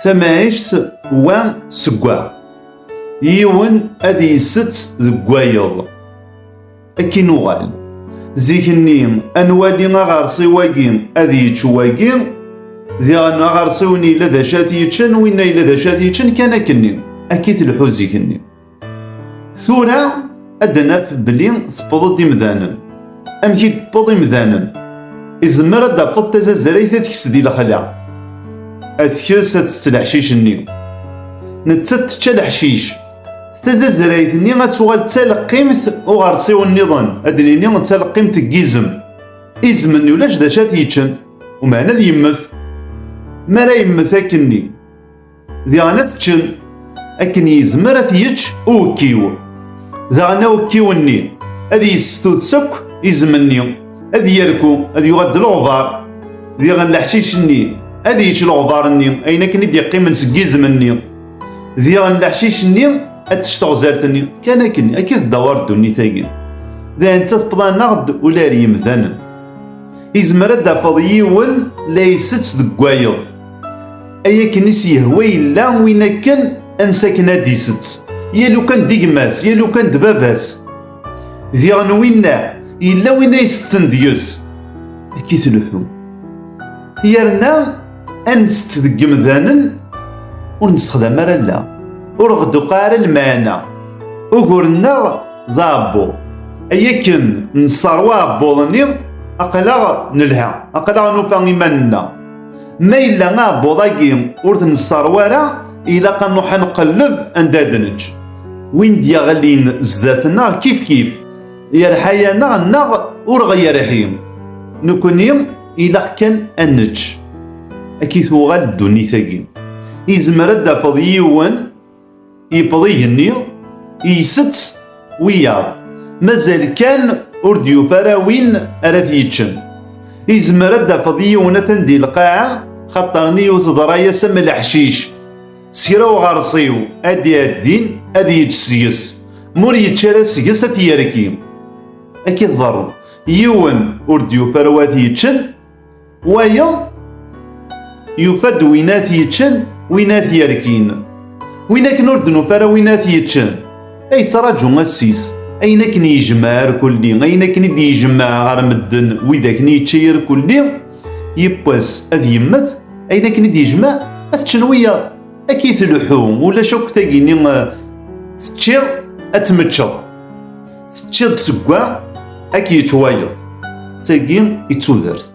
Tamɛict wa seg wa. Yiwen ad yesett deg wayeḍ. Ad k-inuɣal. Zik-nni, ad nwali aɣersiw-agi ad yečč wagi, diɣen aɣersiw-nni yella d acu ad t-yeččen, winna yella d acu ad t-yeččen, kan akken-nni. Akka i telḥu zik-nni. Tura ad naf belli tewweḍ-d imdanen. Amek i d-tewweḍ imdanen? Izemmer ad d-tafeḍ tazazrayt ad tekes di lexla. Ad tekes ad tett leḥcic-nni. Nettat tečča leḥcic. Tazazrayt-nni ad tuɣal d taleqqimt uɣersiw-nniḍen, ad d-nini d taleqqimt n yizem. Izem-nni ulac d acu ad t-yeččen, umeɛna ad yemmet. Mi ara yemmet akkenni. Diɣen ad teččen akken yezmer ad t-yečč uwekkiw. Daɣen awekkiw-nni ad yesseftud sakk izem-nni, ad yerku, ad yuɣal d leɣbar. Diɣen leḥcic-nni ad yečč leɣbar-nni, ayen akken i d-yeqqimen seg izem-nni. Diɣen leḥcic-nni ad tečč teɣzalt-nni, kan akken, akka i d-tdawar ddunit-agi. Dayen d tatepḍa-nneɣ-d ula ar yemdanen. Izmer ad d-tafeḍ yiwen la isett deg wayeḍ. Ay akken i s-yehwa yella win akken ansa akken ad d-isett, yal lukan d gma-s, yal lukan d baba-s. Diɣ n winna, yella win ay setten deg-s. Akka i tleḥḥu. Yerna ad nsett deg yemdanen ur nessexdam ara alla, ur ɣ-d-tuqa ara lmeɛna. Ugur-nneɣ d aɛebbuḍ. Ay akken nesseṛwa aɛebbuḍ-nni, aql-aɣ nelha, aql-aɣ nufa iman-nneɣ. Ma yella aɛebbuḍ-agi ur t-nesserwa ara, ilaq ad nruḥ ad nqelleb anda ad neǧǧ. Win d-yeɣlin zdat-neɣ kifkif yerḥa-yaneɣ neɣ ur ɣ-yerḥi, nekkni ilaq kan ad neǧǧ. Akka i tuɣal ddunit-agi. Izmer ad d-tafeḍ yiwen. Yewweḍ igenni, isett wiyaḍ. Mazal kan ur d-yufa ara win ara t-yeččen. Izmer ad d-tafeḍ yiwen atan di lqaɛa, xaṭer nni-w teḍra-yas am leḥcic. S kra uɣersiw ad d-iɛeddin ad yečč seg-s, ma ur yečči ara seg-s ad t-yerki. Akka i tḍerru. Yiwen ur d-yufa ara wa t-yeččen. Wayeḍ yufa-d win ad t-yeččen win ad t-yerkin. Win akken ur d-nufa ara win ad t-yeččen, ay yettṛaǧu assis. Ayen akken yejmeɛ irkulli, ayen akken i d-yejmeɛ ɣer medden wid akken yečča irkulli, yiwwas ad yemmet, ayen akken i d-yejmeɛ ad t-ččen wiyaḍ. Akka i tleḥḥu, ulac akk tagi-nni eh, teččiḍ ad tmeččeḍ. Teččiḍ seg wa, ad k-yečč wayeḍ. D tagi i d tudert.